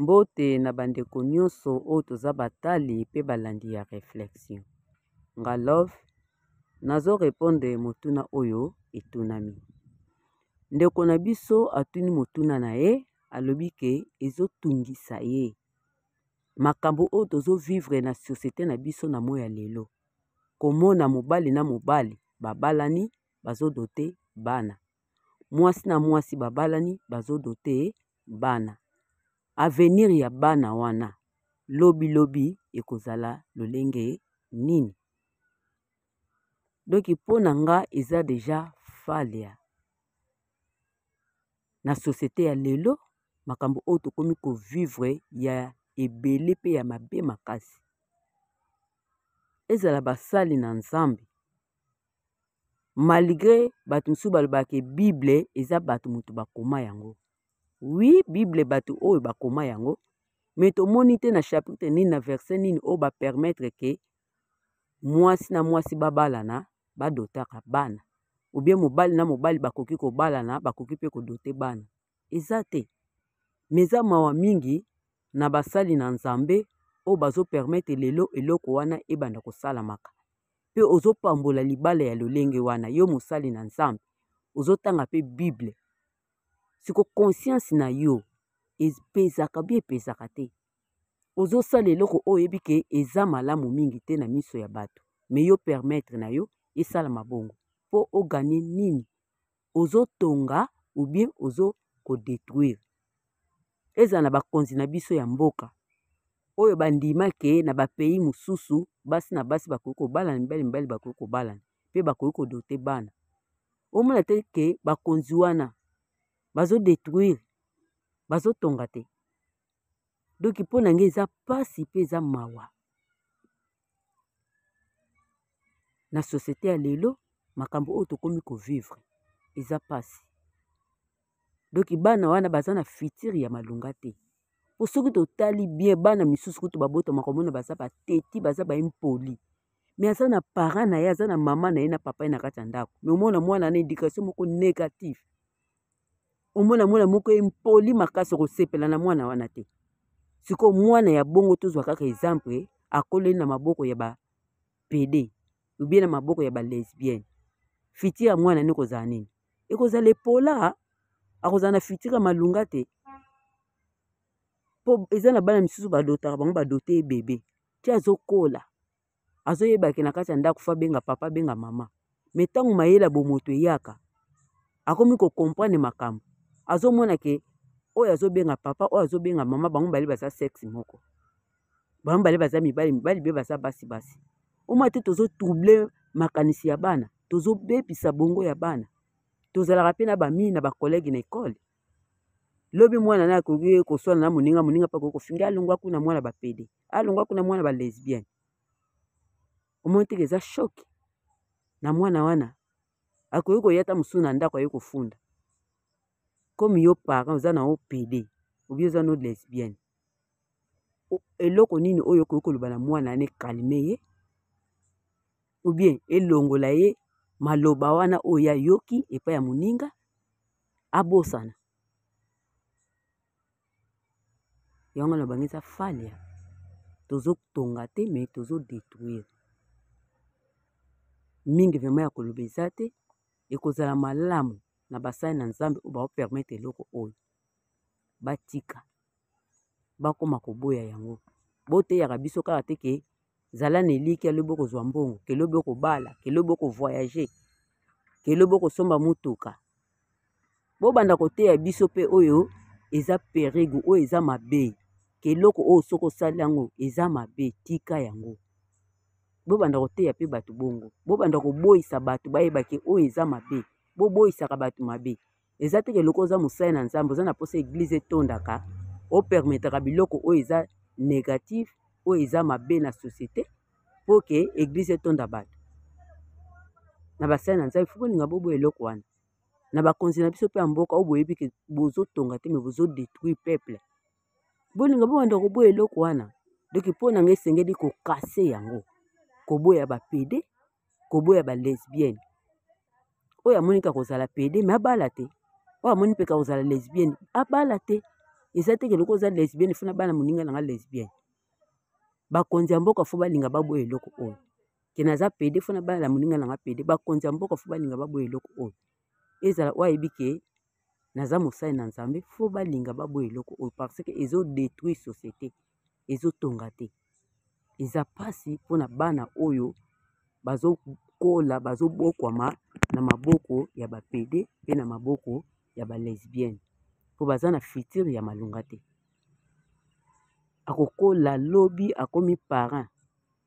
Mbote na bandeko nyonso oyo toza batali pe balandi ya reflexion. Nga love nazo repondre motuna oyo etunami. Ndeko na biso atuni motuna na ye alobi ke ezo tungisa ye. Makambo oyo tozo vivre na societe na biso na moyi ya lelo. Komona mobali na mobali babalani bazo dote bana. Mwasi na mwasi babalani bazo dote bana avenir ya bana wana lobi lobi ekozala lolenge nini donc mpo na nga eza deja falia na societe ya lelo makambo oyo tokomi kovivre ya ebele mpe ya mabe makasi ezala basali na nzambe malgre bato mosusu balobaka ke bible eza bato moto bakoma yango wi bible bato oyo bakoma yango me tomoni te na chapitre nini na verse nini oyo bapermettre ke mwasi na mwasi babalana badotaka bana obie mobali na mobali bakoki kobalana bakoki mpe kodote bana eza te me eza mawa mingi na basali na nzambe oyo bazopermettre lelo eloko wana ebanda kosalamaka mpe ozopambola libala ya lolenge wana yo mosali na nzambe ozotanga mpe bible siko conscience na yo epezaka bi epezaka te ozosala eloko oyo oyebi ke eza malamu mingi te na miso ya bato me yo permettre na yo esala mabongo mpo oganye nini ozo tonga ou bien ozo ko detruire. Ezala na bakonzi na biso ya mboka oyo bandima ke na ba pays mosusu basi na basi bakoki kobalana, mibali mibali bakoki kobalana mpe bakoki kodote bana. Omona te ke bakonzi wana bazo detruire, bazo tonga te. Donc mpo na ngai eza pasi mpe eza mawa. na société ya lelo makambo oyo tokomi kovivre eza mpasi donki bana wana baza na fitire ya malonga te mpo soki totali bien bana misusu kutu babotamaka omona baza bateti baza baimpoli me aza na parent na ye aza na mama na ye na papa ye na kati ya ndako me omona mwana na éducation moko négative omona mwana moko impoli makasi okosepela na mwana wana te sikoyo mwana ya bongo tozwa kaka exemple akoleli na maboko ya ba pede obie na maboko ya ba lesbienne fiti ya mwana ni kozala nini ekozala epola akozala na fitiri ya malunga te mpo eza na bana misusu badotaka bango badote ye bebe ti azokola azoyeba ke na kati ya ndako fo abenga papa abenga mama me ntango mayele ya bomoto eyaka akomi kocomprendre makambo azomona ke oyo azobenga papa oyo azobenga mama bango mibale baza sexe moko bango mibale baza mibali mibali mpe baza basi basi omwa te tozotrouble makanisi ya bana tozobebisa bongo ya bana tozalaka mpe na bamii na bakolege na ekole lobi mwana na akoki koswana na moninga moninga mpe akoki kofinga alongwa kuna mwana bapede alongwa kuna mwana ba lesbienne omoni teke eza shoki na mwana wana akoki koya ata mosusu na ndako aye kofunda comme yo parent oza na opd obi oza no lesbienne eloko nini oyo okoki koloba na mwana ane kalme ye ou bien elongola ye maloba wana oyo ayoki epai ya moninga abosana yango na bango eza falia tozotonga te me tozodetruire mingi vrema ya koloba eza te ekozala malamu na basali na nzambe oyo baopermetre eloko oyo batika bakoma koboya yango boteyaka biso kaka te ke zala na elikia lobi okozwa mbongo ke lobi okobala ke lobi okovoyage ke lobi okosomba motuka bobanda koteya biso mpe oyo eza perigo oyo eza mabe ke eloko oyo soki osali yango eza mabe tika yango bobanda koteya mpe bato bongo bobanda koboyisa bato bayeba ke oyo eza mabe boboyisaka bato mabe eza te ke loko oza mosali na nzambe oza na mposa eglize etondaka opermetaka biloko oyo eza négatif oyo eza mabe na société mpo ke eglize etonda bato na basali na nzambe fo bolinga bobo eloko wana na bakonzi na biso mpe ya mboka oyo boyebi ke bozotonga te me bozodetruire peuple bolinga bobanda koboya eloko wana donk mpo na ngai esengeli kokase yango koboya bapede koboya ba lesbienne oyo amoni ka kozala pede me abala te oyo amoni mpe ka kozala lesbienne abala te eza te keloko oza lesbienne funa bana moninga nanga lesbienne bakonzi ya mboka fo balinga baboya eloko oyo ke naza pede funa bana moninga nanga pede bakonzi ya mboka fo balinga baboya eloko oyo ezala oyo ayebi ke naza mosali na nzambe fo balinga baboya eloko oyo parce que ezodétruire société ezotonga te eza mpasi mpona bana oyo bazokola bazobokwama na maboko ya bapede mpe na maboko ya balesbienne mpo baza na fitire ya malonga te akokola lobi akomi parent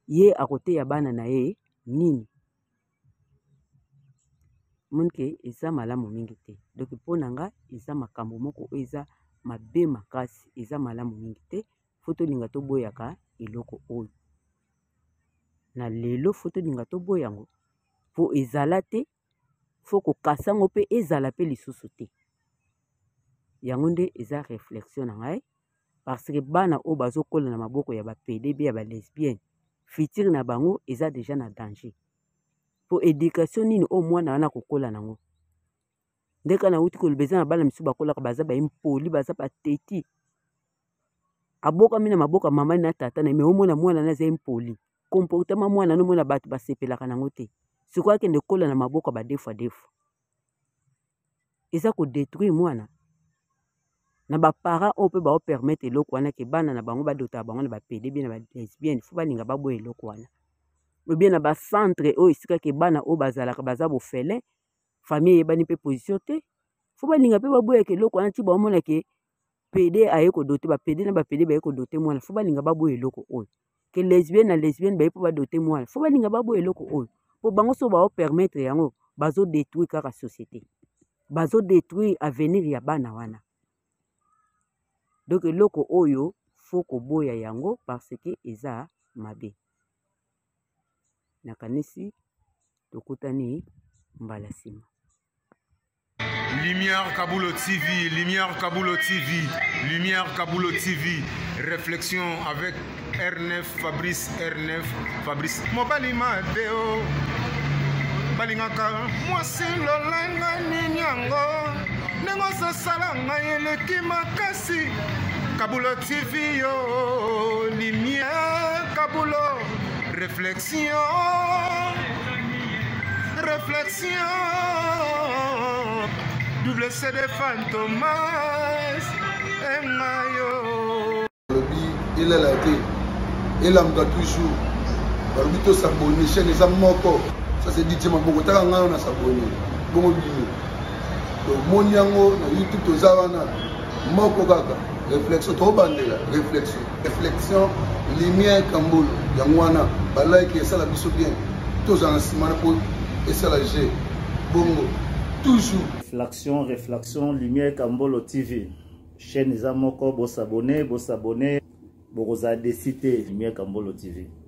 ye akoteya bana na ye nini omoni ke eza malamu mingi te donc mpo na nga eza makambo moko oyo eza mabe makasi eza malamu mingi te fo tolinga toboyaka eloko oyo na lelo fo tolinga toboya yango mpo ezala te fo kokasa yango mpe ezala mpe lisusu te yango nde eza reflexion na ngai parce que bana oyo bazokola na maboko ya bapede be ya balesbienne fitire na bango eza deja na danger mpo education nini oyo mwana wana akokola nango ndeka nauti koloba eza na bana misusu bakolaka baza baimpoli baza bateti abokami na maboko ya mama na tata na me omona mwana na aza impoli comportema mwana nomona bato basepelaka nango te sikoyo akende kola na maboko ya badefu adefu eza ko detruire mwana na ba parents oyo mpe bao permettre eloko wana ke bana na bango badota bango na ba pede bien na ba lesbienne fo balinga baboya eloko wana obie na ba centre oyo esika ke bana oyo bazalaka baza bofele famille eyebani mpe position te fo balinga mpe baboyaka eloko wana ti baomona ke pede aye ko dote ba pede na ba pede baye ko dote mwana fo balinga baboya eloko oyo ke lesbienne na lesbienne baye mpo badote mwana fo balinga baboya eloko oyo mpo bango so bao permettre yango bazo detruire kaka société bazo detruire avenir ya bana wana donc eloko oyo fo koboya yango parce que eza mabe nakanisi tokutani mbala nsima Lumière Kabulo TV, Lumière Kabulo TV, Lumière Kabulo TV, réflexion avec R9, Fabrice R9, Fabrice. Mobali Mateo, balingaka mwasi lolanga nini yango ndenge ozosala ngai eleki makasi kabulo tv yo limie kabulo réflexion Réflexion, double CD Fantomas, et Mayo. Il est là, il est là, toujours. balobi tosabone chaine eza moko ça c'est dit maboko taka ngai na sabone bongo bino tomoni yango na youtube toza wana moko kaka réflexion tobandela réflexion reflexion lumière kambolo yango wana balike esala biso bien tozala na nsima na mpo esala je bongo toujours reflexion reflexion lumière kambolo tv chaîne eza moko bosabone bosabone bokozala desi te lumière kambolo tv